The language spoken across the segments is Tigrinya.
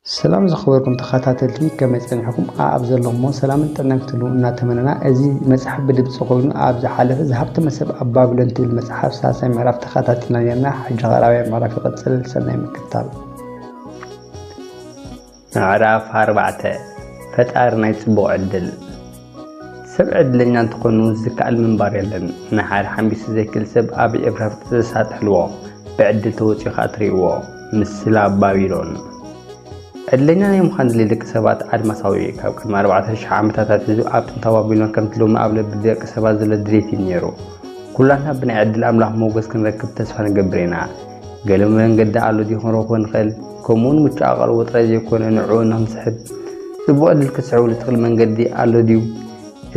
ሰላም ዝኸበርኩም ተኸታተልቲ ከመይ ጸኒሕኩም? ኣብ ዘለኹሞ ሰላምን ጥዕናን ክትህልዉ እናተመነና እዚ መጽሓፍ ብድምጺ ኮይኑ ኣብ ዝሓለፈ ዝሃብቲ መሰብ ኣብ ባቢሎን ትብል መጽሓፍ ሳልሳይ ምዕራፍ ተኸታቲልና ነርና ሕጂ ኸኣ ራብያ ምዕራፍ ይቕጽል ሰናይ ምክትታል። ምዕራፍ ኣርባዕተ ፈጣሪ ናይ ጽቡቕ ዕድል ሰብ ዕድለኛ እንተኾኑ ዝከኣል ምንባር የለን ንሓደ ሓምቢሱ ዘይክል ሰብ ኣብ ኤብራፍጥ ዘሳጥሕልዎ ብዕድል ተወጺኡ ከኣ ትርእይዎ ምስላ ባቢሎን ዕድለኛ ናይ ምዃን ድሌት ደቂ ሰባት ኣድማሳዊ እዩ ካብ ቅድሚ ኣርባዕተ ሽሕ ዓመታት ኣትሒዙ ኣብ ጥንታዊ ባቢሎን ከምቲ ሎሚ ኣብ ልቢ ደቂ ሰባት ዘሎ ድሌት እዩ ነይሩ ኩላትና ብናይ ዕድል ኣምላኽ ሞገስ ክንረክብ ተስፋ ንገብር ኢና ገለ መንገዲ ኣሎ ድዩ ክንረኽቦ ንኽእል? ከምኡውን ምቹእ ኣቓልቦ ጥራይ ዘይኮነ ንዕኡ ንኽንስሕብ ጽቡቕ ዕድል ክትስዕብሉ እትኽእል መንገዲ ኣሎ ድዩ?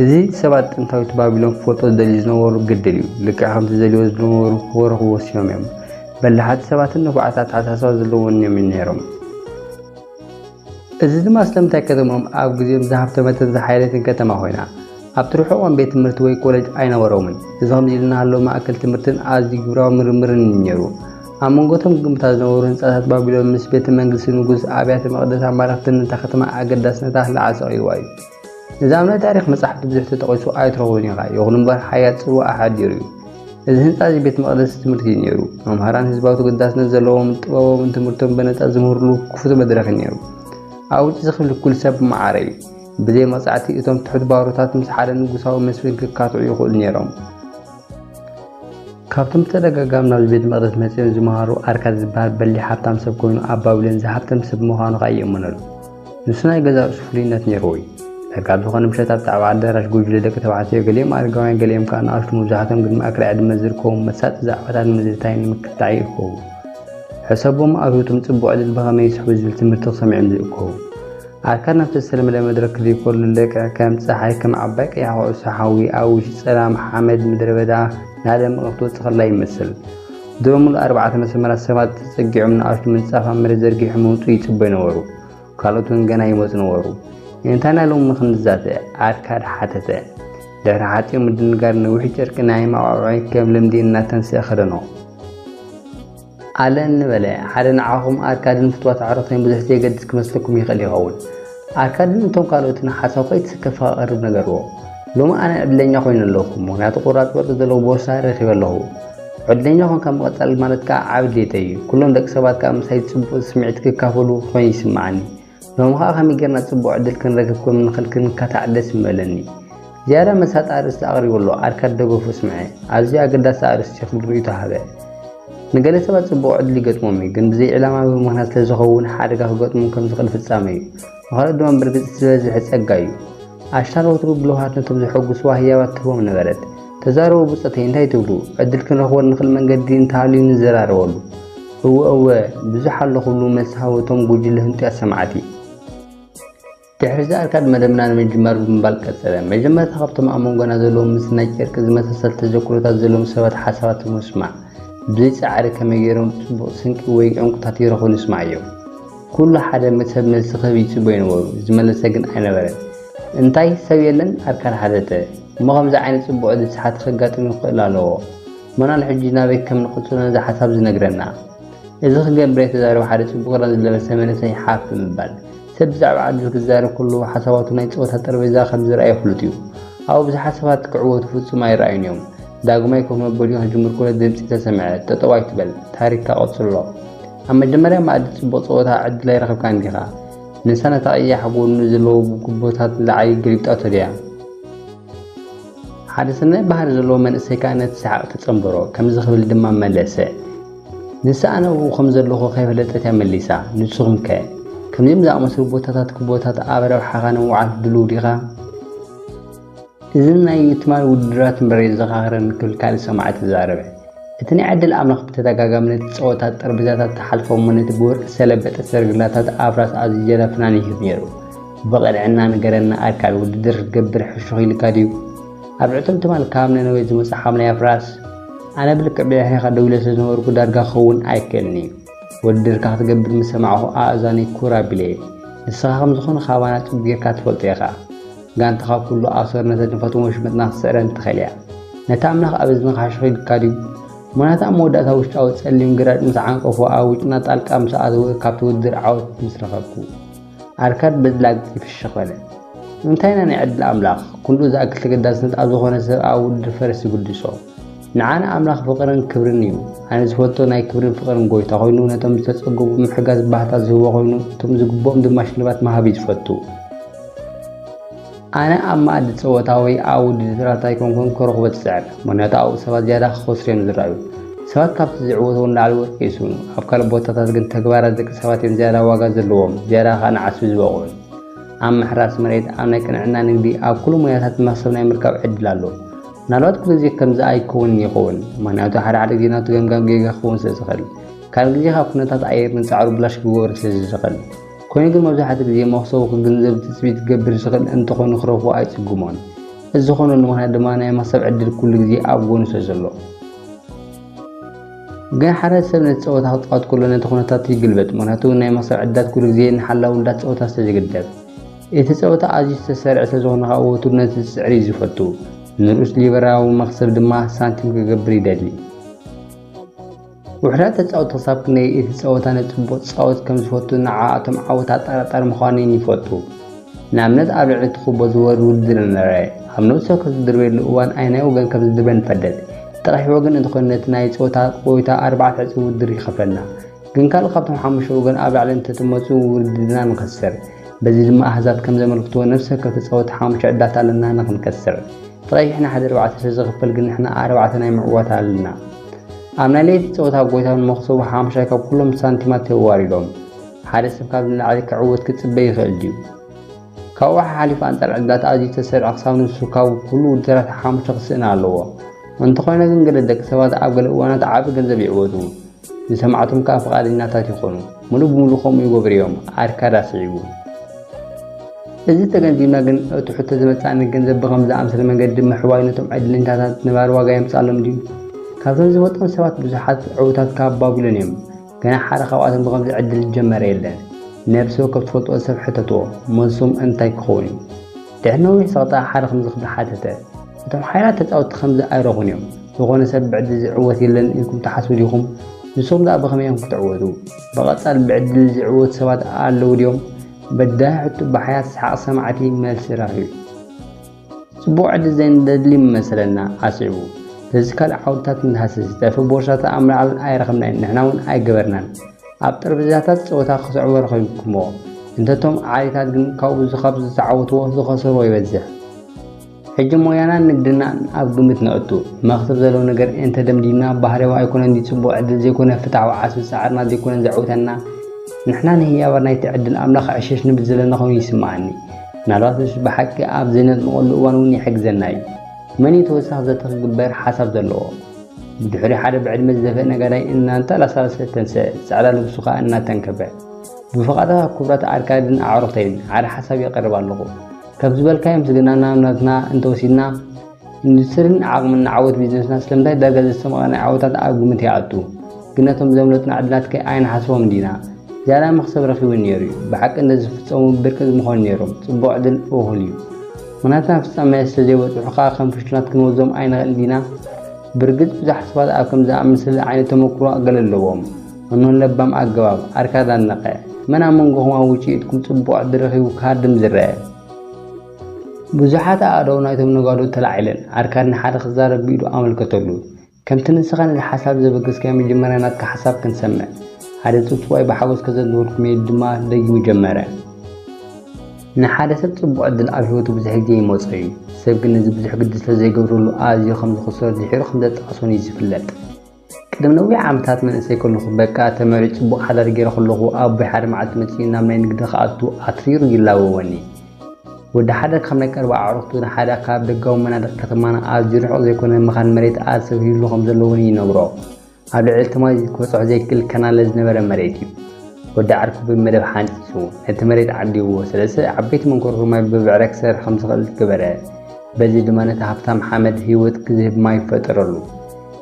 እዚ ሰባት ጥንታዊት ባቢሎን ክፈልጦ ዝደልዩ ዝነበሩ ግድል እዩ። ልክዕ ከምቲ ዝደልይዎ ዝነበሩ ክረኽቡ ወሲኖም እዮም። በላሓት ሰባትን ንፉዓት ኣተሓሳስባ ዘለዎምን እዮም ነይሮም። እዚ ድማ ስለምንታይ ከተምኦም ኣብ ግዜኦም ዝሃብተመትን ዝሓየለትን ከተማ ኮይና፣ ኣብቲ ርሑቖም ቤት ትምህርቲ ወይ ኮለጅ ኣይነበሮምን። እዚ ከምዚ ኢሉ እናሃለወ ማእከል ትምህርትን ኣዝዩ ግብራዊ ምርምርን እዩ ነይሩ። ኣብ መንጎ እቶም ግምብታት ዝነበሩ ህንጻታት ባቢሎን ምስ ቤተ መንግስቲ ንጉስ፣ ኣብያተ መቕደስ ኣማልኽትን ነታ ከተማ ኣገዳስነታ ልዓል ሰቒልዋ እዩ። እዚ ኣብ ናይ ታሪኽ መጻሕፍቲ ብዙሕ ተጠቒሱ ኣይትረኽቦን ኢኻ፣ ይኹን እምበር ሓያል ጽልዋ ኣሓዲሩ እዩ። እዚ ህንጻ እዚ ቤት መቕደስ ትምህርቲ እዩ ነይሩ፣ መምሃራን ህዝባዊ ተገዳስነት ዘለዎምን ጥበባውን ትምህርቶም በነጻ ዝምህርሉ ክፉት መድረኽ እዩ ነይሩ። ኣብ ውጪ ዝኽል ኩል ሰብ ማዕረ እዩ። ብዘይ መቕጻዕቲ እቶም ትሑት ባሮታት ምስ ሓደ ንጉሳዊ መስፍን ክካትዑ ይኽእሉ ነይሮም። ካብቶም ብተደጋጋሚ ናብዚ ቤተ መቕደስ መጺኦም ዝመሃሩ ኣርካድ ዝበሃል በሊሕ ሃብታም ሰብ ኮይኑ ኣብ ባቢሎን ዝሃብተም ሰብ ምዃኑ ከኣ ይእመነሉ። ንሱ ናይ ገዛ ርእሱ ፍሉይነት ነይርዎ እዩ። ዳርጋ ኣብ ዝኾነ ምሸት ኣብ ጣዕባ ኣዳራሽ ጉጅለ ደቂ ተባዕትዮ ገሊኦም ኣረጋውያን ገሊኦም ከኣ ንኣሽቱ መብዛሕቶም ግን መኣከል ዕድመ ዝርከቦም መሳጢ ዛዕባታት ምዝታይ ንምክትታዕ ይእከቡ። ሕሰቦም ኣብ ህይወቶም ጽቡቕ ዕድል ብኸመይ ይስሕቡ ዝብል ትምህርቲ ክሰምዑ እዮም ዝእከቡ። ኣርካን ኣብቲ ዝተለመደ መድረክ ዘይኮሉ ለቀ ከም ጸሓይ ከም ዓባይ ቀያሕ ኩዕሶ ሓዊ ኣብ ውሽጢ ጸላም ሓመድ ምድረበዳ ናደመቐ ክትወጽእ ከላ ይመስል። ድሮ ምሉእ ኣርባዕተ መሰመራት ሰባት ተጸጊዖም ንኣሽቱ ምንጻፍ ኣብ መሬት ዘርጊሑ ምውጽኡ ይጽበዩ ነበሩ። ካልኦት እውን ገና ይመጹ ነበሩ። እንታይና ሎሚ ክንዛተ? ኣርካድ ሓተተ። ድሕሪ ሓጺር ምድንጋር ነዊሕ ጨርቂ ናይ መዓዖዒ ከም ልምዲ እናተንስኤ ከደኖ። ኣለኒ በለ። ሓደ ንዓኹም ኣርካድን ፍትዋት ኣዕሩኽተይን ብዙሕ ዘይገድስ ክመስለኩም ይኽእል ይኸውን። ኣርካድን እቶም ካልኦትን ሓሳብ ከይተሰከፈ ከቐርብ ነገርዎ። ሎሚ ኣነ ዕድለኛ ኮይነ ኣለኹ፣ ምክንያቱ ቁራጽ ወርቂ ዘለዎ ቦርሳ ረኺበ ኣለኹ። ዕድለኛ ኮንካ ምቕጻል ማለት ከኣ ዓቢ ድሌተይ እዩ። ኩሎም ደቂ ሰባት ከኣ ምሳይ እቲ ጽቡቕ ስምዒት ክካፈሉ ኮይኑ ይስምዓኒ። ሎሚ ኸኣ ከመይ ጌርና ጽቡቕ ዕድል ክንረክብ ከም ንኽእል ክንካታዕ ደስ ምበለኒ። ዝያዳ መሳጢ ኣርእስቲ ኣቕሪቡ ኣሎ፣ ኣርካድ ደገፉ ስምዐ። ኣዝዩ ኣገዳሲ ኣርእስቲ እዩ ክብል ርእይቶ ሃበ። ንገለ ሰባት ጽቡቕ ዕድል ይገጥሞም እዩ፣ ግን ብዘይ ዕላማ ወይ ምኽንያት ስለዝኸውን ሓደጋ ክገጥሞም ከም ዝኽእል ፍጻመ እዩ። ንኻልኦት ድማ ብርግጽ እቲ ዝበዝሐ ጸጋ እዩ። ኣሽታን ወትሩ ብልውሃት ነቶም ዘሐጉስዋ ህያባት ትህቦም ነበረት። ተዛረቡ ብጾተይ እንታይ ትብሉ? ዕድል ክንረኽበሉ ንኽእል መንገዲ እንተሃልዩ ንዘራረበሉ። እወ እወ ብዙሕ ኣሎ ክብሉ መልሲ ሃቡ እቶም ጉጅለ ህንጡያት ሰማዕቲ። ድሕሪ'ዚ ኣርካድ መደብና ንምጅማር ብምባል ቀጸለ። መጀመርታ ካብቶም ኣብ መንጎና ዘለዉ ምስ ናይ ጨርቂ ዝመሳሰል ተዘክሮታት ዘለዎም ሰባት ሓሳባቶም ምስማዕ። ብዘይ ጻዕሪ ከመይ ገይሮም ጽቡቕ ስንቂ ወይ ዕንቊታት ይረኽቡ ንስማዮ። ኹሉ ሓደ ምስ ሰብ መልሲ ክህብ ይጽበዩ ነበሩ፣ ዝመለሰ ግን ኣይነበረን። እንታይ ሰብ የለን? ኣርካን ሓተተ። እሞ ከምዚ ዓይነት ጽቡቕ እድል ሰሓቲ ከጋጥም ይኽእል ኣለዎ። መናን ሕጂ ናበይ ከም ንቕጽሎ ነዚ ሓሳብ ዝነግረና? እዚ ክገብር'የ ተዛሪቡ ሓደ ጽቡቕ ክዳን ዝለበሰ መንእሰይ ሓፍ ብምባል። ሰብ ብዛዕባ ዕድል ክዛረብ ከሎ ሓሳባቱ ናይ ጸወታ ጠረጴዛ ከም ዝርኣዮ ፍሉጥ'ዩ። ኣብኡ ብዙሓት ሰባት ክዕወቱ ፍጹም ኣይርኣዩን'ዮም። ዳግማይ ኮፍ መበሊኡ ክጅምር ከሎ ድምጺ ተሰምዐ፣ ጠጠው ኣይትበል፣ ታሪኽካ ቀጽሎ። ኣብ መጀመርያ መኣዲ ጽቡቕ ጸወታ ዕድል ኣይረኸብካን ዲኻ? ንሳ ነታ ቀያሕ ጎድኑ ዘለዎ ጉቦታት ዝዓዪ ገሊብጣቶ ድያ? ሓደ ሰናይ ባህሪ ዘለዎ መንእሰይ ከኣ ነቲ ሰሓቕ ተጸንበሮ፣ ከምዚ ክብል ድማ መለሰ፣ ንሳ ኣነ ኣብኡ ከም ዘለኹ ከይፈለጠት እያ መሊሳ። ንስኹም ከ? ከምዚኦም ዝኣመሰሉ ቦታታት፣ ጉቦታት፣ ኣብ ረብሓኻ ንምውዓል ድሉው ዲኻ? እዝን ናይ ትማል ውድድራት እምበር የዘኻኽረኒ ክብል ካልእ ሰማዒ ተዛረበ። እቲ ናይ ዕድል ኣምላኽ ብተደጋጋሚ ነቲ ጸወታ ጠርጴዛታት ተሓልፎ እሞ ነቲ ብወርቂ ዝተለበጠ ሰረገላታት ኣፍራስ ኣዝዩ ጀላ ፍናን ይህብ ነይሩ። ብቕንዕና ንገረና ኣካል ውድድር ክትገብር ሕሹኽ ኢሉካ ድዩ? ኣብ ዕቱብ ትማል ካብ ነነዌ ዝመጾ ሓምላይ ኣፍራስ? ኣነ ብልክዕ ብድሕሬኻ ደው ኢለ ስለዝነበርኩ ዳርጋ ክኸውን ኣይክእልን እዩ። ውድድርካ ክትገብር ምስ ሰማዕኩ ኣእዛነይ ኩር ኣቢለየን። ንስኻ ከም ዝኾነ ካባና ጽቡቕ ጌርካ ትፈልጦ ኢኻ። ጋንታኻ ኩሉ ኣሶር ነተን ድፈትን ወሽመጥና ክትስዕረን ትኽእል እያ። ነቲ ኣምላኽ ኣብ እዝንኻ ሕሹኽ ኢሉካ ድዩ? ሞራታ ኣብ መወዳእታ ውሽጣዊ ጸሊም ግራጭ ምስ ዓንቀፎ ኣብ ውጭና ጣልቃ ምስ ኣተወ ካብቲ ውድድር ዓወት ምስ ረኸብኩ። ኣርካድ በዚ ላግጺ ፍሽኽ በለ። ንምንታይ ኢና ናይ ዕድል ኣምላኽ፣ ኩሉ ዝኣክል ተገዳስነት ኣብ ዝኾነ ሰብ ኣብ ውድድር ፈረስ ዝግድሶ? ንዓና ኣምላኽ ፍቕርን ክብርን እዩ። ኣነ ዝፈቶ ናይ ክብርን ፍቕርን ጎይታ ኮይኑ ነቶም ዝተጸገቡ ምሕጋዝ ባህታ ዝህቦ ኮይኑ እቶም ዝግብኦም ድማ ሽልማት ምሃብ እዩ ዝፈቱ። ኣነ ኣብ መኣዲ ጸወታ ወይ ኣብ ውድድራት ኣይኮንኩን ክረኽቦ ዝጽዕር፣ ምክንያቱ ኣብኡ ሰባት ዝያዳ ክኸስሩ እዮም ዝረኣዩ። ሰባት ካብቲ ዝዕወትዎ ንላዕሊ ወርቂ ይስእኑ። ኣብ ካልእ ቦታታት ግን ተግባራት ደቂ ሰባት እዮም ዝያዳ ዋጋ ዘለዎም፣ ዝያዳ ከኣ ንዓስቢ ዝበቕዑን። ኣብ ምሕራስ መሬት፣ ኣብ ናይ ቅንዕና ንግዲ፣ ኣብ ኩሉ ሞያታት መኽሰብ ናይ ምርካብ ዕድል ኣሎ። ምናልባት ኩሉ ግዜ ከምዚ ኣይከውንን ይኸውን ምክንያቱ ሓደ ሓደ ግዜ ናቱ ገምጋም ጌጋ ክኸውን ስለ ዝኽእል ካልእ ግዜ ካብ ኩነታት ኣየር ንጻዕሩ ብላሽ ክገብሮ ስለ ዝኽእል ኮይኑ ግን መብዛሕትኡ ግዜ መኽሰቡ ክግንዘብ ትጽቢት ክገብር ዝኽእል እንተኾይኑ ክረኽቦ ኣይጽግሞን እዚ ዝኾነሉ ምክንያት ድማ ናይ መኽሰብ ዕድል ኩሉ ግዜ ኣብ ጎኑ ስለ ዘሎ ግን ሓደ ሰብ ነቲ ጸወታ ክጻወት ከሎ ነቲ ኩነታት ይግልበጥ ምክንያቱ ናይ መኽሰብ ዕድላት ኩሉ ግዜ ንሓላዊ ውዳት ጸወታ ስለ ዝግደብ እቲ ጸወታ ኣዝዩ ዝተሰርዐ ስለዝኾነ ከኣ ወትሩ ነቲ ዝጽዕር እዩ ዝፈቱ። ንርኡስ ሊበራዊ መኽሰብ ድማ ሳንቲም ክገብር ይደሊ። ውሑዳት ተጻወቲ ክሳብ ክንደይ እቲ ጸወታ ንጽቡቕ ዝጻወት ከም ዝፈቱ ንዓኣቶም ዓወት ኣጠራጣሪ ምዃኑ'ውን ይፈልጡ። ንኣብነት ኣብ ልዕሊ እቲ ኩቦ ዝወርድ ውድድር እንርኣ፣ ኣብ ነብሲ ወከፍ ዝድርበየሉ እዋን ኣየናይ ወገን ከም ዝድርበ ንፈልጥ። እቲ ቀይሕ ወገን እንተኾይኑ ነቲ ናይ ጸወታ ቆይታ ኣርባዕተ ዕጽፊ ውድድር ይኸፍለና። ግን ካልእ ካብቶም ሓሙሽተ ወገን ኣብ ላዕሊ እንተትመፁ ውድድርና ንኸስር። በዚ ድማ ኣሃዛት ከም ዘመልክትዎ ነፍሲ ወከፍ ተፃወቲ ሓሙሽተ ዕድላት ኣለና ንኽንከስር። እቲ ቀይሕ ንሓደ ኣርባዕተ ስለዝኽፈል ግን ንሕና ኣርባዕተ ናይ ምዕዋት ኣለና። ኣብ ናይ ለይቲ ፀወታ ጎይታው ንመኽሰቡ ሓሙሻይ ካብ ኩሎም ሳንቲማት ተዋሪዶም። ሓደ ሰብ ካብ ንላዕሊ ክዕወት ክፅበ ይኽእል ድዩ? ካብኡ ሓሓሊፉ ኣንፃር ዕድላት ኣዝዩ ዝተሰርዐ ክሳብ ንሱ ካብ ኩሉ ውድድራት ሓሙሽተ ክስእን ኣለዎ። እንተኾነ ግን ገለ ደቂ ሰባት ኣብ ገለ እዋናት ዓቢ ገንዘብ ይዕወቱ። ዝሰማዕቶም ከኣ ፍቓደኛታት ይኾኑ። ምሉእ ብምሉእ ከምኡ ይገብሩ እዮም፣ ኣርካድ ኣስዒቡ። እዚ ተገንዚብና ግን እቲ ሕቶ ዝመጽኣኒ ገንዘብ ብኸምዚ ዝኣምሰለ መንገዲ ምሕዋይ ነቶም ዕድለኛታት ንባር ዋጋ የምጽኣሎም ድዩ? ካብቶም ዝፈልጦም ሰባት ብዙሓት ዕዉታት ካብ ባቢሎን እዮም። ገና ሓደ ካብኣቶም ብኸምዚ ዕድል ዝጀመረ የለን። ነብሲ ወከፍ ትፈልጥዎ ሰብ ሕተትዎ፣ መልሶም እንታይ ክኸውን እዩ? ድሕሪ ነዊሕ ጸቕጢ ሓደ ከም ዝኽብር ሓተተ። እቶም ሓያላት ተጻወትቲ ከምዚ ኣይረኹን እዮም። ዝኾነ ሰብ ብዕድል ዝዕወት የለን ኢልኩም ትሓስቡ ዲኹም? ንስኹም ደኣ ብኸመይ ኢኹም ክትዕወቱ? ብቐጻሊ ብዕድል ዝዕወቱ ሰባት ኣለዉ ድዮም? በዳሂ ሕቶ ብሓያት ሰሓቕ ሰማዕቲ መልሲ ረኺቡ። ጽቡቕ ዕድል ዘይንደሊ መሰለና ኣስዒቡ። ስለዚ ካልእ ዓውድታት ንሃስስ። ጸርፊ ቦርሳታት ኣብ ምልዓል ኣይረኸብናዮን፣ ንሕና'ውን ኣይገበርናን። ኣብ ጠረጴዛታት ጸወታ ክትዕወሩ ኮይንኩሞ፣ እንተቶም ዓሌታት ግን ካብኡ ዝኻብ ዝተዓወትዎ ዝኸሰርዎ ይበዝሕ። ሕጂ ሞያናን ንግድናን ኣብ ግምት ነእቱ። መኽሰብ ዘለዎ ነገር ኤንተ ደምዲምና ባህርያዊ ኣይኮነን ድዩ ጽቡቕ ዕድል ዘይኮነ ፍትሓዊ ዓስቢ ጻዕርና ዘይኮነን ዘዕውተና? ንሕና ንህያባት ናይቲ ዕድል ኣምላኽ ዕሸሽ ንብል ዘለና ኮይኑ ይስምዓኒ። ምናልባትስ ብሓቂ ኣብ ዘይነጥምቐሉ እዋን'ውን ይሕግዘና እዩ። መን'ዩ ተወሳኺ ዘተ ክግበር ሓሳብ ዘለዎ? ብድሕሪ ሓደ ብዕድመ ዝደፍእ ነጋዳይ እናንተላሳለሰ ተንሰእ፣ ጸዕዳ ልብሱ ከኣ እናተንከፈ። ብፍቓድኻ ክቡራት ኣርካድን ኣዕሩኽተይን፣ ሓደ ሓሳብ የቕርብ ኣለኹ። ካብ ዝበልካዮ ምስግናና ናትና እንተወሲድና፣ ኢንዱስትሪን ዓቕምን ንዓወት ቢዝነስና ስለምንታይ ዳርጋ ዘሰምቐ ናይ ዓወታት ኣብ ግምት ይኣቱ? ግን ነቶም ዘምለጡና ዕድላትከ ኣይንሓስቦም ዲና? ዝያዳ መኽሰብ ረኺቡ ነይሩ'ዩ። ብሓቂ እንተዝፍጸሙ ብርቂ ምኾኑ ነይሮም። ጽቡቕ ዕድል እኹል'ዩ። ምኽንያትና ፍጻሜ ስለ ዘይበጽሑ ከኣ ከም ፍሹላት ክንወስዶም ኣይንኽእልን ዲና? ብርግጽ ብዙሓት ሰባት ኣብ ከምዚ ዝኣመሰለ ዓይነት ተመክሮ ገለ ኣለዎም። እኖ ለባም ኣገባብ፣ ኣርካ ዛነቐ፣ መን ኣብ መንጎኹም ኣብ ውጭኢትኩም ጽቡቕ ዕድል ረኺቡ ክሃድም ዝረኣ? ብዙሓት ኣእዳው ናይቶም ነጋዶ ተላዒለን፣ ኣርካድ ንሓደ ክዛረብ ብኢዱ ኣመልከተሉ። ከምቲ ንስኻ ነዚ ሓሳብ ዘበገስካዮ መጀመርያ ናትካ ሓሳብ ክንሰምዕ። ሓደ ጽውጽዋይ ብሓጎስ ከዘንትወልኩም እየ ኢሉ ድማ ደጊሙ ጀመረ። ንሓደ ሰብ ጽቡቕ ዕድል ኣብ ህይወቱ ብዙሕ ግዜ ይመጾ እዩ። ሰብ ግን ነዚ ብዙሕ ግዲ ስለ ዘይገብረሉ ኣዝዩ ከም ዝኽሰሮ ድሒሩ ከም ዘጣዕሶን እዩ ዝፍለጥ። ቅድሚ ነዊሕ ዓመታት መንእሰይ ከለኹ በቃ ተመርዕዩ ጽቡቕ ሓዳር ገይረ ከለኹ ኣቦይ ሓደ መዓልቲ መጺኡ ናብ ናይ ንግዲ ክኣቱ ኣትሪሩ ይላወወኒ። ወዲ ሓደ ካብ ናይ ቀረባ ኣዕሩኽቱ ንሓደ ካብ ደጋዊ መናድቕ ከተማና ኣዝዩ ርሑቕ ዘይኮነ መኻን መሬት ኣሰብ ሂብሉ ከም ዘሎ እውን ይነግሮ። ኣብ ልዕሊ እቲ ማይ ክበጽሖ ዘይክእል ከናለ ዝነበረ መሬት እዩ። ወዲ ዓርኩ ብመደብ ሓንጺጹ ነቲ መሬት ዓዲዎ፣ ሰለስተ ዓበይቲ መንኮርኩር ማይ ብብዕራይ ክሰርሕ ከም ዝኽእል ገበረ። በዚ ድማ ነቲ ሃብታም ሓመድ ህይወት ዝህብ ማይ ፈጠረሉ።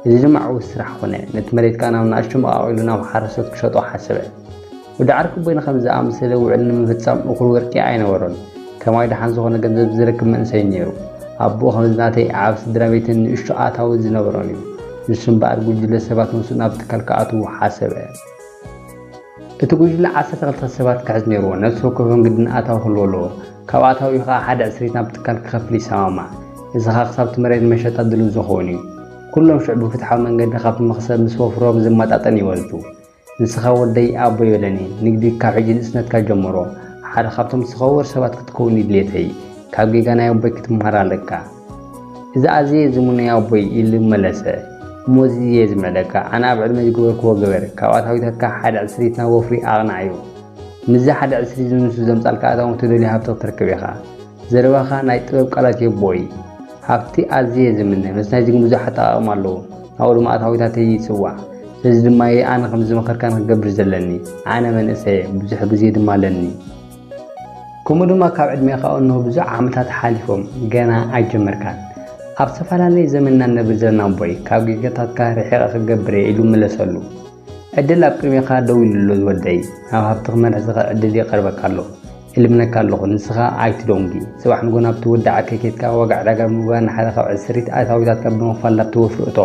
እዚ ድማ ዕዉት ስራሕ ኮነ፣ ነቲ መሬት ከኣ ናብ ንኣሽቱ መቓቒሉ ናብ ሓረስቶት ክሸጦ ሓሰበ። ወዲዓር ክቡይ ንኸምዚ ዝኣመሰለ ውዕል ንምፍጻም እኹል ወርቂ ኣይነበሮን። ከማይ ደሓን ዝኾነ ገንዘብ ዝረክብ መንእሰይ ነይሩ። ኣቦኡ ከምዚ ናተይ ዓቢ ስድራቤትን ንእሽቶ ኣታዊ ዝነበሮን እዩ። ንሱ እምበኣር ጉጅለ ሰባት ምስኡ ናብ ትካል ክኣትዉ ሓሰበ። እቲ ጉጅለ ዓሰርተ ክልተ ሰባት ክሕዝ ነይርዎ፣ ነፍሲ ወከፎም ግድን ኣታዊ ክህልዎ ኣለዎ። ካብ ኣታዊኡ ከኣ ሓደ ዕስሪት ናብ ትካል ክኸፍል ይሰማማዕ። እዚ ከኣ ክሳብቲ መሬት ንመሸጣ ድሉው ዝኸውን እዩ። ኩሎም ሽዑ ብፍትሓዊ መንገዲ ካብቲ መኽሰብ ምስ ወፍሮም ዝመጣጠን ይወስዱ። ንስኻ ወደይ ኣቦይ በለኒ ንግዲ ካብ ሕጂ ንእስነትካ ጀምሮ ሓደ ካብቶም ዝተኸበሩ ሰባት ክትከውን እዩ ድሌተይ ካብ ጌጋ ናይ ኣቦይ ክትመሃር ኣለካ እዚ ኣዝየ ዝምነዮ ኣቦይ ኢሉ መለሰ እሞ እዚ እየ ዝምዕደካ ኣነ ኣብ ዕድመይ ዝገበርክዎ ግበር ካብ ኣታዊታትካ ሓደ ዕስሪት ናብ ወፍሪ ኣቕናዕ እዩ ምስዚ ሓደ ዕስሪት ዝንሱ ዘምጻልካ ኣታዊ እትደልዮ ሃብቲ ክትረክብ ኢኻ ዘረባኻ ናይ ጥበብ ቃላት እዩ ኣቦይ። ሃብቲ ኣዝየ ዝምነ መስ ናይዚ ግን ብዙሕ ኣጠቓቕማ ኣለዎ ናብኡ ድማ ኣታዊታተይ ይጽዋዕ ስለዚ ድማ እየ ኣነ ከምዚ ዝመኸርካኒ ክገብር ዘለኒ ኣነ መንእሰይ እየ ብዙሕ ግዜ ድማ ኣለኒ ከምኡ ድማ ካብ ዕድሜኻ እንሆ ብዙሕ ዓመታት ሓሊፎም ገና ኣይጀመርካን ኣብ ዝተፈላለየ ዘመንና ነብር ዘለና ኣቦይ ካብ ጌጋታትካ ርሒቐ ክገብር እየ ኢሉ መለሰሉ ዕድል ኣብ ቅድሜኻ ደው ኢሉ ኣሎ ዝወደይ ናብ ሃብቲ ክመርሕ ዝኽእል ዕድል ይቐርበካ ኣሎ እልምነካ ኣለኹ ንስኻ ኣይትዶንጊ ጽባሕ ንጎ ናብቲ ወዲ ዓርከይ ኬድካ ዋጋ ዕዳጋ ብምግባር ንሓደ ካብ ዕስሪት ኣታዊታትካ ብምኽፋል ናብቲ ወፍሪ እቶ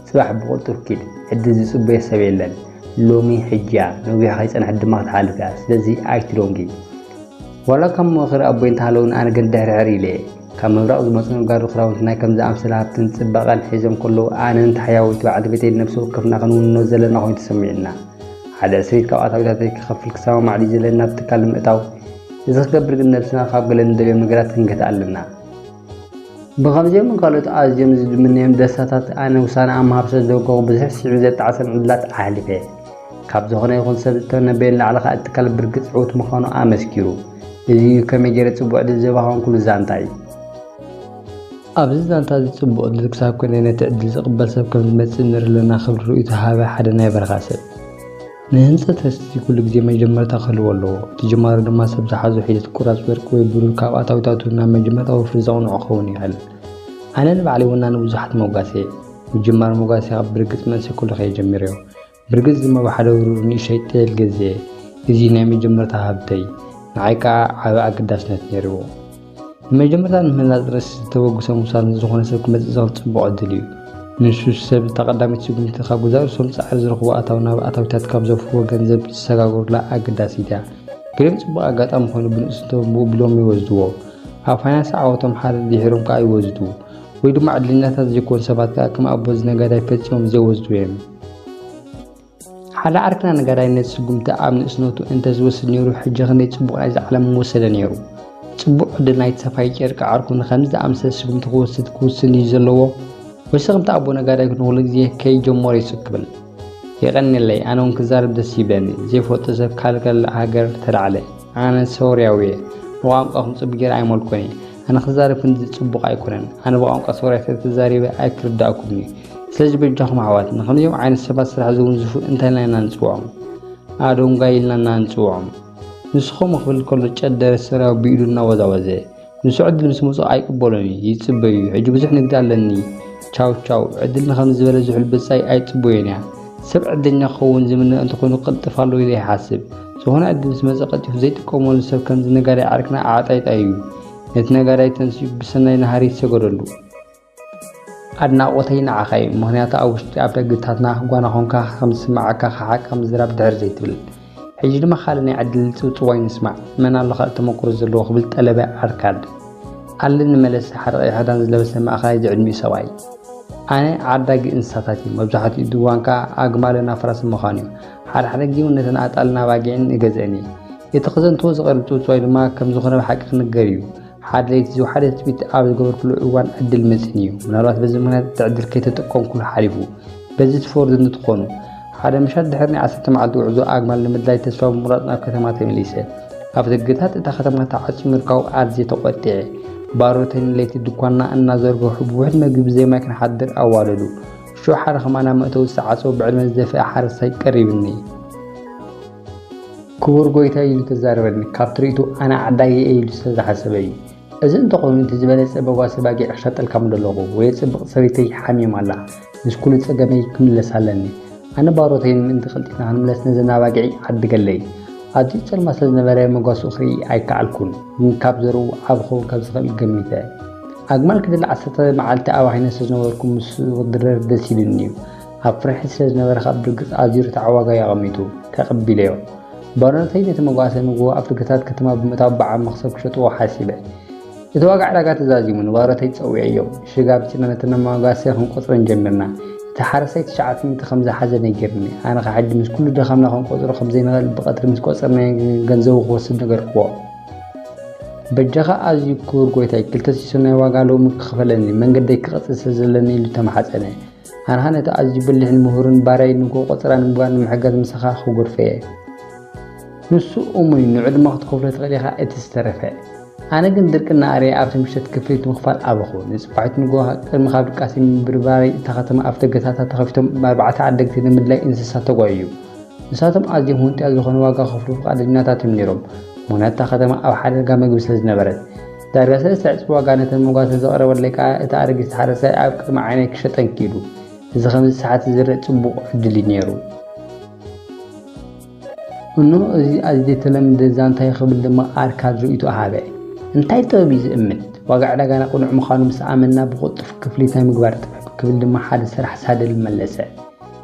ጽባሕ ብቕልጡፍ ኪድ ዕድል ዝጽበዮ ሰብ የለን ሎሚ ሕጂያ ነዊሕ ከይጸንሐት ድማ ክትሓልፍ እያ ስለዚ ኣይትዶንጊ ዋላ ካብ ምኽሪ ኣቦይ እንተሃለውን ኣነ ግን ድሕርሕር ኢለ እየ ካብ ምብራቕ ዝመጹ ነጋዶ ክዳውንቲ ናይ ከምዚ ኣምሰለ ሃብትን ጽባቐን ሒዞም ከለዉ ኣነን ታሕያወይቲ በዓልቲ ቤተይን ነብሲ ወከፍና ክንውንኖ ዘለና ኮይኑ ተሰሚዑና። ሓደ ዕስሪት ካብ ኣታዊታተይ ክኸፍል ክሰማማዕ ድዩ ዘለኒ ናብቲ ትካል ንምእታው? እዚ ክገብር ግን ነብስና ካብ ገለ ንደልዮም ነገራት ክንገትእ ኣለና። ብኸምዚኦምን ካልኦት ኣዝዮም ዝድምነዮም ደስታታት ኣነ ውሳነ ኣብ ምሃብ ስለ ዝወገኹ ብዙሕ ስዒቡ ዘጣዕሰም ዕድላት ኣሕሊፈ። ካብ ዝኾነ ይኹን ሰብ ዝተነበየ ንላዕሊ ከኣ እትካል ብርግጽ ዕውት ምዃኑ ኣመስኪሩ። እዚ እዩ ከመይ ገይረ ጽቡቕ ዕድል ዘባኸንኩሉ ዛንታ እዩ። ኣብዚ ዛንታ እዚ ጽቡቕ ዕድል ክሳብ ክንደይ ነቲ ዕድል ዝቕበል ሰብ ከም ዝመጽእ ንርኢ ኣለና ክብል ርእይቶ ሃበ ሓደ ናይ በረኻ ሰብ። ንህንጸት ህዝቢ ኩሉ ግዜ መጀመርታ ክህልዎ ኣለዎ። እቲ ጅማሮ ድማ ሰብ ዝሓዞ ሒደት ቁራጽ ወርቂ ወይ ብሩር ካብ ኣታዊታቱ ናብ መጀመርታ ወፍሪ ዘቕንዖ ክኸውን ይኽእል። ኣነ ንባዕለይ ወናኒ ብዙሓት ሞጓሰየ። ምጅማር ሞጓሰኻ ብርግጽ መንእሰይ ኩሉ ከየጀሚረዮ። ብርግጽ ድማ ብሓደ ብሩር ንእሽቶይ ጤል ገዝኤ። እዚ ናይ መጀመርታ ሃብተይ፣ ንዓይ ከኣ ዓቢ ኣገዳስነት ነይርዎ። ንመጀመርታ ንምህናጽ ርእሲ ዝተበግሶ ምውሳድ ምስ ዝኾነ ሰብ ክመጽእ ዝኽእል ጽቡቕ ዕድል እዩ። ንሱ ሰብ እታ ቀዳመይቲ ስጉምቲ ካብ ገዛእ ርእሶም ጻዕሪ ዝረኽብዎ ኣታዊ ናብ ኣታዊታት ካብ ዘፍርዎ ገንዘብ ዝሰጋገሩላ ኣገዳሲት እያ። ገሊኦም ጽቡቕ ኣጋጣሚ ኮይኑ ብንእስ እንተንብኡ ብሎሚ ይወስድዎ። ኣብ ፋይናንስ ዓወቶም ሓረር ድሒሮም ከኣ ይወዝዱ። ወይ ድማ ዕድለኛታት ዘይኮኑ ሰባት ከኣ ከም ኣቦዚ ነጋዳይ ፈጺሞም ዘይወዝዱ እዮም። ሓደ ዓርክና ነጋዳይ ነቲ ስጉምቲ ኣብ ንእስነቱ እንተ ዝወስድ ነይሩ ሕጂ ክንደይ ጽቡቕ ናይዛ ዓለም ምወሰደ ነይሩ። ጽቡቕ ዕድል ናይቲ ሰፋዪ ጨርቂ ዓርኩ ንኸምዚ ዝኣመሰለ ስጉምቲ ክወስድ ክውስን እዩ ዘለዎ። ወይሲ ከምቲ ኣቦ ነጋዳይ ንኹሉ ግዜ ከይጀመሮ ይሱቅ ክብል። የቐንየለይ ኣነ እውን ክዛረብ ደስ ይብለኒ። ዘይፈልጦ ሰብ ካልእ ካልእ ሃገር ተላዕለ። ኣነ ሶርያዊ እየ። ንቋንቋኹም ጽቡቕ ጌረ ኣይመልኩን እየ። ኣነ ክዛረብ ክንድዚ ጽቡቕ ኣይኮነን። ኣነ ብቋንቋ ሶርያ ስለ ተዛሪበ ኣይክርድኣኩምን እዩ። ስለዚ በጃኹም ኣሕዋትና ከምዚኦም ዓይነት ሰባት ስራሕ ዘውንዝፉ እንታይ ኢልና ኢና ንፅውዖም? ኣዶንጓይ ኢልና ኢና ንፅውዖም። ንስኹም ክብል ከሎ ጨደረ ሰራዊ ብኢዱ እናወዛወዘ ንሱ ዕድል ምስ መፅኦ ኣይቅበሎን እዩ፣ ይፅበዩ እዩ። ሕጂ ብዙሕ ንግዲ ኣለኒ ቻው ቻው። ዕድል ንኸምዚ ዝበለ ዝሑል ብፃይ ኣይፅበዮን እያ። ሰብ ዕድለኛ ክኸውን ዝምነ እንተኾይኑ ክቕልጥፍ ኣለዎ ኢለ ይሓስብ። ዝኾነ ዕድል ምስ መፀ ቀልጢፉ ዘይጥቀመሉ ሰብ ከምዚ ነጋዳይ ዓርክና ኣዕጣይጣይ እዩ። ነቲ ነጋዳይ ተንሲኡ ብሰናይ ንሃሪ ይሰገደሉ። ኣድናቖተይ ንዓኻ እዩ ምኽንያቱ ኣብ ውሽጢ ኣብ ደግታትና ጓና ኾንካ ከም ዝስምዓካ ክሓቃ ምዝራብ ድሕር ዘይትብል ሕጂ ድማ ካልእ ናይ ዕድል ጽውጽዋይ ንስማዕ መን ኣሎ ካልእ ተመክሮ ዘለዎ ክብል ጠለበ ኣርካድ ኣለኒ መለሰ ሓደ ቀይሕ ክዳን ዝለበሰ ማእከላይ ዝዕድሚኡ ሰብኣይ ኣነ ዓዳጊ እንስሳታት እዩ መብዛሕትኡ ድዋን ከዓ ኣግማልን ኣፍራስን ምዃኑ እዩ ሓደ ሓደ ግዜ እውን ነተን ኣጣልና ባጊዕን እገዝአን እየ እቲ ክዘንትዎ ዝቐርብ ፅውፅዋይ ድማ ከም ዝኾነ ብሓቂ ክንገር እዩ ሓደ ለይቲ ዝወሓደ ትፅቢት ኣብ ዝገበርኩሉ እዋን ዕድል መፅኒ እዩ። ምናልባት በዚ ምክንያት እቲ ዕድል ከይተጠቀምኩሉ ሓሊፉ። በዚ ትፈርዱ እንትትኾኑ። ሓደ ምሻት ድሕሪ ናይ ዓሰርተ መዓልቲ ጉዕዞ ኣግማል ንምድላይ ተስፋ ብምቑራፅ ናብ ከተማ ተመሊሰ። ኣብ ደገታት እታ ከተማ ተዓፅዩ ምርካቡ ኣዝየ ተቖጢዐ። ባሮተይን ለይቲ ድኳንና እናዘርገሑ ብውሕድ መግቢ ብዘይ ማይ ክንሓድር ኣዋደዱ። ሽዑ ሓደ ከማና መእተዊ ዝተዓፀወ ብዕድመ ዝደፍአ ሓረስታይ ቀሪብኒ። ክቡር ጎይታ እዩ ዝተዛረበኒ ካብ ትርኢቱ ኣነ ዓዳጊ እየ ኢሉ ስለ ዝሓሰበ እዩ እዚ እንተኾይኑ እቲ ዝበለጸ በጓሲ ባጊዕ ክሸጠልካ ምደለኹ ወይ ጽብቕቲ ሰበይተይ ሓሚም ኣላ ምስ ኩሉ ጸገመይ ክምለስ ኣለኒ ኣነ ባሮተይን ምእንቲ ቀልጢፍና ክንምለስ ነዘን ኣባጊዕ ዓድገለይ ኣዝዩ ጽልማ ስለ ዝነበረ መጓስኡ ክርኢ ኣይከኣልኩን ግን ካብ ዘርኡ ዓብ ክኸውን ካብ ዝኽእል ገሚተ ኣግማል ክድል ዓሰርተ መዓልቲ ኣባኺነ ስለ ዝነበርኩ ምስ ክድረር ደስ ኢሉኒ እዩ ኣብ ፍርሒ ስለ ዝነበረ ካብ ብርግጽ ኣዝዩ ርትዓዊ ዋጋ እዩ ኣቐሚጡ። ተቐቢለዮ። ባሮነተይ ነቲ መጓሰ ንግሆ ኣብ ደገታት ከተማ ብምእታው ብዓቢ መኽሰብ ክሸጥዎ ሓሲበ። እቲ ዋጋ ዕዳጋ ተዛዚሙ ንባሮተይ ጸዊዐዮ። ሽጋብ ጭነና እቲ መጓሰ ክንቆጽረን ጀሚርና። እቲ ሓረስታይ ትሽዓተ ሚእቲ ከም ዝሓዘ ነጊሩኒ። ኣነ ከኣ ሕጂ ምስ ኩሉ ድኻምና ክንቆጽሮ ከም ዘይንኽእል ብቐትሪ ምስ ቆጸርናዮ ገንዘቡ ክወስድ ነገርክዎ። በጃኻ ኣዝዩ ክቡር ጎይታይ ክልተ ሲሶ ናይ ዋጋ ሎሚ ክኽፈለኒ መንገደይ ክቕጽል ስለ ዘለኒ ኢሉ ተማሕጸነ። ሃንሃን እቲ ኣዝዩ ብልህን ምሁርን ባርያይ ንግሆ ቆጸራ ንምግባር ንምሕጋዝ ምሳኻ ክጉርፈ እየ። ንሱ እሙን እዩ ንዕድመ ክትከፍሎ ትኽእል ኢኻ እቲ ዝተረፈ። ኣነ ግን ድርቅና ኣርየ ኣብቲ ምሸት ክፍሊት ምኽፋል ኣበኹ። ንጽባሒቱ ንግሆ ቅድሚ ካብ ድቃሰይ ምብርባረይ እታ ከተማ ኣፍደገታታ ተኸፊቶም ብኣርባዕተ ዓደግቲ ንምድላይ እንስሳ ተጓይዩ። ንሳቶም ኣዝዮም ሁንጥያ ዝኾነ ዋጋ ክኸፍሉ ፍቓደኛታት እዮም ነይሮም ምኽንያቱ እታ ከተማ ኣብ ሓደጋ መግቢ ስለዝነበረት። ዳርጋሰ ዝተዕጽፈ ዋጋ ነተን መጓሰ ዘቕረበለይ ከኣ እቲ ኣረጊት ሓረሳይ ኣብ ቅድሚ ዓይነይ ክሸጠን ክኢሉ። እዚ ከምዚ ሰዓት እዚ ዝርእ ጽቡቕ ዕድል እዩ ነይሩ። እኖ እዚ ኣዚ ዘይተለምደ ዛንታይ ክብል ድማ ኣርካድ ርእይቶኡ ሃበ። እንታይ ጥበብ እዩ ዝእምት? ዋጋ ዕዳጋና ቅኑዕ ምዃኑ ምስ ኣመንና ብቕልጡፍ ክፍሊት ናይ ምግባር ጥበብ ክብል ድማ ሓደ ሰራሕ ሳድል መለሰ።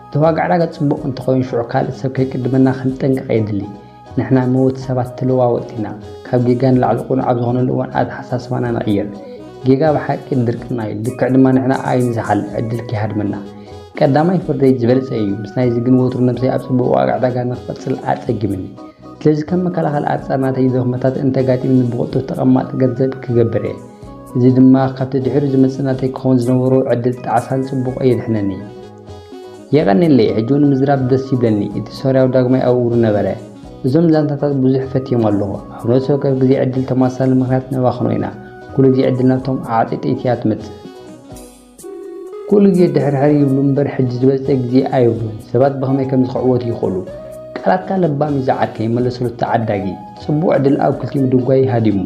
እቲ ዋጋ ዕዳጋ ጽቡቕ እንተኾይኑ ሽዑ ካልእ ሰብ ከይቅድመና ክንጠንቀቕ የድሊ። ንሕና ምውት ሰባት ተለዋወጥቲ ኢና። ካብ ጌጋ ንላዕሊ ቅኑዕ ኣብ ዝኾነሉ እዋን ኣተሓሳስባና ንቕይር። ጌጋ ብሓቂ ድርቅና እዩ፣ ልክዕ ድማ ንሕና ኣይንዝሓል፣ ዕድል ከይሃድመና። ቀዳማይ ፍርደይ ዝበለጸ እዩ፣ ምስ ናይዚ ግን ወትሩ ነብሰይ ኣብ ጽቡቕ ዋጋ ዕዳጋ ንኽቕጽል ኣጸጊሙኒ። ስለዚ ከም መከላኸሊ ኣጻር ናተይ ድኽመታት እንተጋጢሙኒ ብቕልጡፍ ተቐማጢ ገንዘብ ክገብር እየ። እዚ ድማ ካብቲ ድሒሩ ዝመጽእ ናተይ ክኸውን ዝነበሮ ዕድል ጣዕሳን ጽቡቕ የድሕነኒ። የቀኔለይ ሕጂ ውን ምዝራብ ደስ ይብለኒ እቲ ሶርያዊ ዳግማይ ኣብ እግሩ ነበረ እዞም ዛንታታት ብዙሕ ፈትዮም ኣለኹ ሕብረተሰብ ወከፍ ግዜ ዕድል ተማሳሳሊ ምኽንያት ነባኽኖ ኢና ኩሉ ግዜ ዕድል ናብቶም ዓዓጢ ጥይቲ እያ ትመጽእ ኩሉ ግዜ ድሕርሕር ይብሉ እምበር ሕጂ ዝበጽ ግዜ ኣይብሉን ሰባት ብኸመይ ከም ዝኽዕወቱ ይኽእሉ ቃላትካ ለባም እዩ ዝዓርከይ ይመለሰሉ ተዓዳጊ ጽቡቕ ዕድል ኣብ ክልቲኡ ምድንጓይ ሃዲሙ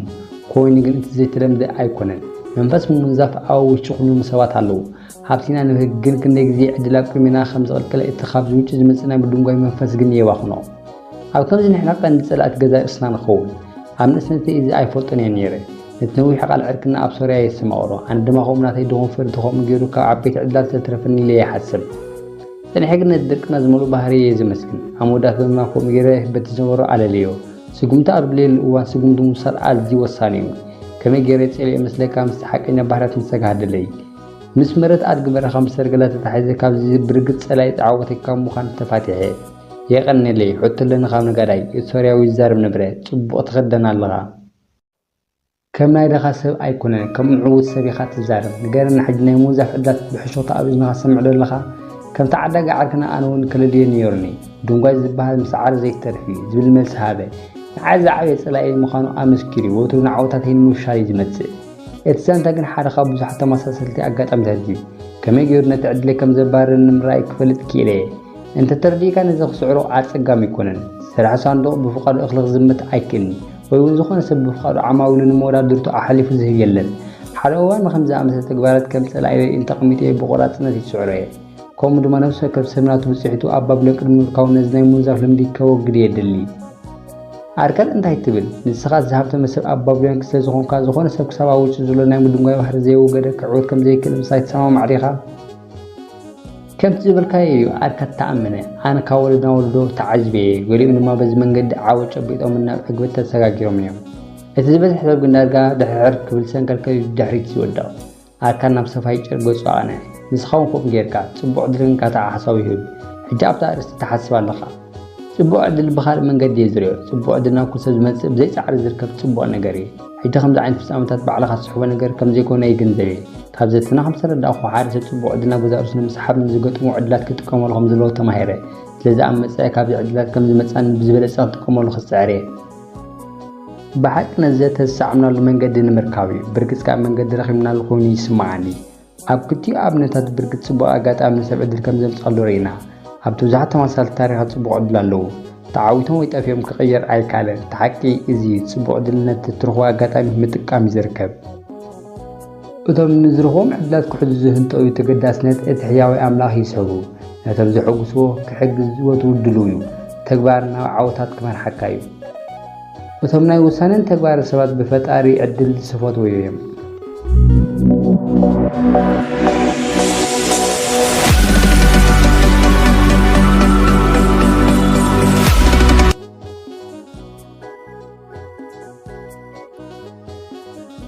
ኮይኑ ግን እቲ ዘይተለምደ ኣይኮነን መንፈስ ምውንዛፍ ኣብ ውሽጢ ኩሉም ሰባት ኣለዉ ሃብቲና ንብህግ ግን ክንደይ ግዜ ዕድል ኣብ ቅድሜና ከም ዝቕልቀል እቲ ካብዚ ውጪ ዝመጽእ ናይ ምድንጓይ መንፈስ ግን የባኽኖ። ኣብ ከምዚ ንሕና ቀንዲ ጸላእቲ ገዛእ ርእስና ንኸውን። ኣብ ንእስነተይ እዚ ኣይፈልጦን እየ ነይረ። ነቲ ነዊሕ ቃል ዕርቅና ኣብ ሶርያ የስተማቕሮ። ኣነ ድማ ከምኡ ናተይ ድኹም ፍርዲ ከምኡ ገይሩ ካብ ዓበይቲ ዕድላት ስለተረፈኒ ኢለ ይሓስብ። ጸኒሐ ግን ነቲ ድርቅና ዝመልኦ ባህርየይ እየ ዘመስግን። ኣብ መወዳእታ ድማ ከምኡ ገይረ በቲ ዝነበሮ ኣለልዮ። ስጉምቲ ኣብ ድለየሉ እዋን ስጉምቲ ምውሳድ ኣዝዩ ወሳኒ እዩ። ከመይ ገይረ ጸሊኦዮ መስለካ ምስቲ ሓቀኛ ባህርያት ምሰጋህደለይ። ምስ መረት ኣድጊ በረኻ ምስ ሰርገላ ተታሒዘ ካብዚ ብርግጽ ጸላኢ ተዓወተይ ካብ ምዃን ተፋቲሐ። የቀኔለይ ሕቶለኒ ካብ ነጋዳይ እቲ ሶርያዊ ይዛረብ ነበረ ጽቡቅ ትኽደን ኣለኻ ከም ናይ ደኻ ሰብ ኣይኮነን ከም ምዕውት ሰብ ኢኻ ትዛረብ ንገረና ሕጂ ናይ ምውዛፍ ዕድላት ብሕሾኽታ ኣብ እዝንኻ ትሰምዕ ዶ ኣለኻ ከም ተዓዳጊ ዓርክና ኣነ ውን ከለልዮ ነይሩኒ ድንጓይ ዝበሃል ምስዓር ዘይተርፍ እዩ ዝብል መልሲ ሃበ ንዓይ ዝዓበየ ጸላኢየይ ምዃኑ ኣመስኪሩ ወትሩ ንዓወታተይ ንምፍሻል እዩ ዝመጽእ እቲ ዛንታ ግን ሓደ ካብ ብዙሓት ተመሳሰልቲ ኣጋጣሚታት እዩ። ከመይ ገይሩ ነቲ ዕድለይ ከም ዘባርር ንምርኣይ ክፈልጥ ክኢለ እየ። እንተ ተረዲእካ ነዚ ክስዕሮ ኣጸጋሚ ኣይኮነን። ሰራሒ ሳንዱቕ ብፍቓዱ እኽሊ ክዝምት ኣይክእልን፣ ወይ እውን ዝኾነ ሰብ ብፍቓዱ ዓማዊሉ ንመወዳድርቱ ኣሕሊፉ ዝህብ የለን። ሓደ እዋን ንኸምዚ ዝኣመሰለ ተግባራት ከም ጸላኢበይ እንተ ኣቐሚጠዮ ብቖራጽነት ይጽዕሮ እየ። ከምኡ ድማ ነፍሲ ወከፍ ሰብ ናቱ ብጽሒቱ ኣብ ባቢሎን ቅድሚ ምርካቡ ነዚ ናይ ምውንዛፍ ልምዲ ከወግድ እየ እደሊ። ኣርከን እንታይ ትብል ንስኻ ዝሃብተመ ሰብ ኣብ ባቢሎን ክስለ ዝኾንካ ዝኾነ ሰብ ክሳብ ኣብ ውሽጡ ዘሎ ናይ ምድንጓይ ባህሪ ዘየወገደ ክዕወት ከም ዘይክእል ምሳይ ትሰማማዕ ዲኻ ከምቲ ዝበልካዮ እዩ ኣርከት ተኣምነ ኣነ ካብ ወለድና ወለዶ ተዓጅበ እየ ገሊኦም ድማ በዚ መንገዲ ዓወ ጨቢጦም ናብ ዕግበት ተሰጋጊሮም እዮም እቲ ዝበዝሕ ሰብ ግን ዳርጋ ድሕርሕር ክብል ሰንከልከል ድሕሪት ዝወድቕ ኣርካን ናብ ሰፋይጭር ገጹ ኣቕንዐ። ንስኻ ውን ከምኡ ጌርካ። ጽቡቕ ዕድልን ካታ ሓሳቡ ይህብ። ሕጂ ኣብታ ኣርእስቲ ትሓስብ ኣለኻ። ጽቡቕ ዕድል ብኻልእ መንገዲ'የ ዝርእዮ። ጽቡቕ ዕድል ናብ ኩሉ ሰብ ዝመጽእ ብዘይ ጻዕሪ ዝርከብ ጽቡቕ ነገር'ዩ። ሕጂ ከምዚ ዓይነት ፍጻመታት ባዕልኻ ትስሕቦ ነገር ከም ዘይኮነ ይግንዘብ'የ። ካብ ዘተና ከም ዝተረዳእኩ ሓደ ሰብ ጽቡቕ ዕድል ናብ ገዛእ ርእሱ ንምስሓብ ንዝገጥሞ ዕድላት ክጥቀመሉ ከም ዘለዎ ተማሂረ። ስለዚ ኣብ መጻኢ ካብዚ ዕድላት ከም ዝመጽኣኒ ብዝበለጸ ክጥቀመሉ ክጽዕር'የ። ብሓቂ ነዚ ዘተ ዝሰዓብናሉ መንገዲ ንምርካብ እዩ። ብርግጽ ካብ መንገዲ ረኺብናሉ ኮይኑ ይስምዓኒ። ኣብ ክልቲኡ ኣብነታት ብርግጽ ጽቡቕ ኣጋጣሚ ንሰብ ዕድል ከም ዘምጽኣሉ ርኢና። ኣብቲ ብዙሓት ተመሳሳልቲ ታሪኻት ጽቡቕ ዕድል ኣለዉ። ተዓዊቶም ወይ ጠፊኦም ክቕየር ኣይከኣለን። እቲ ሓቂ እዚ እዩ፣ ጽቡቕ ዕድል ነቲ እትረኽቦ ኣጋጣሚ ምጥቃም እዩ ዝርከብ። እቶም ንዝርኽቦም ዕድላት ክሕዙ ዝህንጠዩ ተገዳስነት እቲ ሕያዋይ ኣምላኽ ይስሕቡ። ነቶም ዘሐጉስዎ ክሕግዝ ወትሩ ድሉው እዩ። ተግባር ናብ ዓወታት ክመርሓካ እዩ። እቶም ናይ ውሳነን ተግባርን ሰባት ብፈጣሪ ዕድል ዝፈትወዩ እዮም።